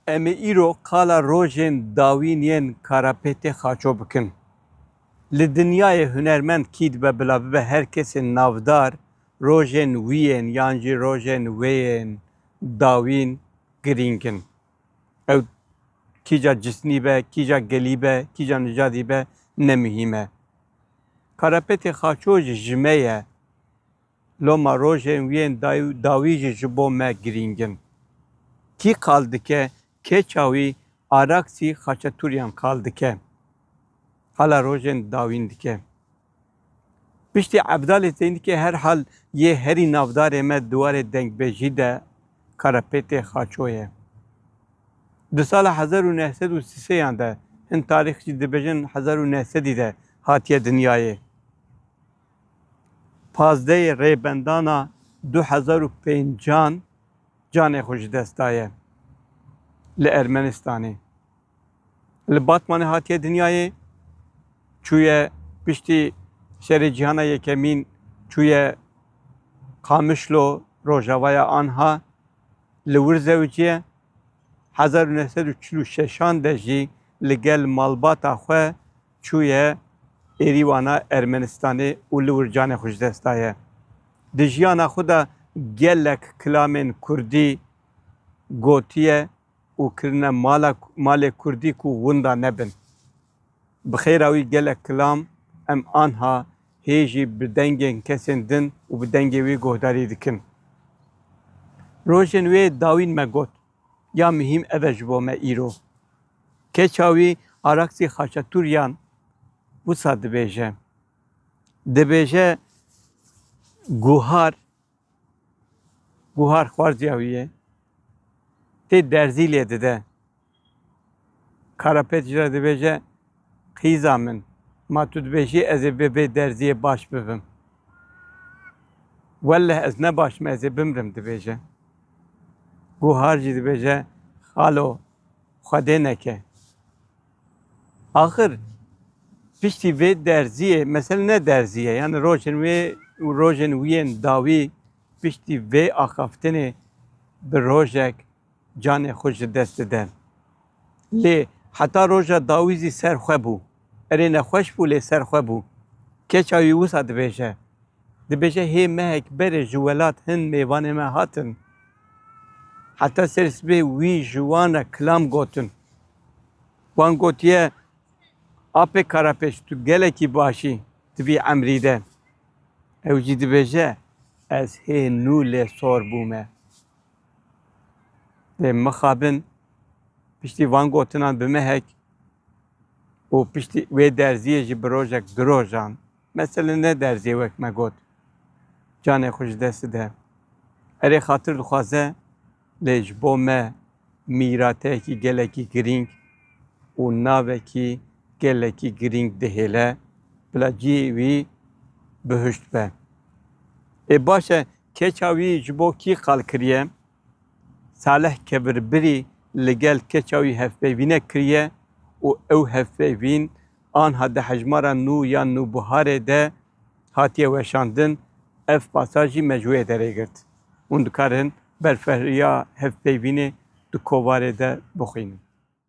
Em ê îro qala rojên dawîn yên Karapêtê xaço bikin. Li dinyayê hunermend kî dibe bila bibe her kesê navdar rojên wî yên yan jî rojên wê yên dawîn girîng in. Ew kîja cismî be, kîja gelî be, kîja nicadî be ne muhîm e. Karapetê Xaço jî ji me ye. Loma rojên wî yên dawî jî ji bo me girîng in. Kî qal dike keça wî araksî Xaçetûryan qal dike. Qala rojên dawîn dike. Piştî Evdalê Zeynikê herhal yê herî navdarê me di warê dengbêjî de Karapêtê Xaço ye. Di sala hezar û neh sed û sî sê yan de, hin tarîxçî dibêjin hezar û neh sedî de hatiye dinyayê. Pazdeyê Rêbendana du hezar û pêncan canê xwe ji dest daye li Ermenistanê. Li Batmanê hatiye dinyayê, çûye piştî Şerê Cîhana Yekemîn çûye Qamişlo, rojavaya anha li wir zewiciye. Hezar û neh sed û çil û şeşan de jî li gel malbata xwe çûye Êrîwana Ermenistanê û li wir canê xwe ji dest daye. Di jiyana xwe de gelek kilamên kurdî gotiye. û kirine mala malê kurdî ku winda nebin. Bi xêra wî gelek kilam em anha hê jî bi dengên kesên din û bi dengê wî guhdarî dikin. Rojên wê dawîn me got, ya mihîm ev e ji bo me îro. Keça wî Araksî Xaçatûryan wisa dibêje. Dibêje, Guhar Buhar xwarziya wî ye. Tê derzî lê dide. Karapet jî re dibêje qîza min ma tu dibêjî ez ê bi vê derziyê baş bibim. Welleh ez ne baş im ez ê bimrim dibêje. Buhar jî dibêje xalo xwedê neke. Axir piştî vê derziyê mesele ne derzî ye yanî rojên wê û rojên wî yên dawî piştî vê axaftinê bi rojek canê xwe ji dest dide. Lê heta roja dawî zî ser xwe bû. Erê nexweş bû lê ser xwe bû. Keça wî wisa dibêje. Dibêje hê mehek berê ji welat hin mêvanê me hatin. Heta ser sibê wî ji wan re kilam gotin. Wan gotiye, Apê Karapêç tu gelekî baş î, tu bî emrî de. Ew jî dibêje, Ez hê nû lê sor bûme. Dê mixabin, piştî van gotinan bimehek û piştî wê derziyê jî bi rojek du rojan. Mesele ne derziyê wek me got. Canê xwe ji dest dide. Erê xatir dixwaze. Lê ji bo me mîrateyekî gelekî girîng û navekî gelekî girîng dihêle bila cihê wî bihişt be. Ê baş e keça wî ji bo kî qal kiriye? Salih Kevirbirî li gel keça wî hevpeyvînek kiriye û ew hevpeyvîn anha di hejmara nû ya Nûbiharê de hatiye weşandin. Ev pasaj jî me ji wê derê girt. Hûn dikarin berfirehriya hevpeyvînê di kovarê de bixwînin.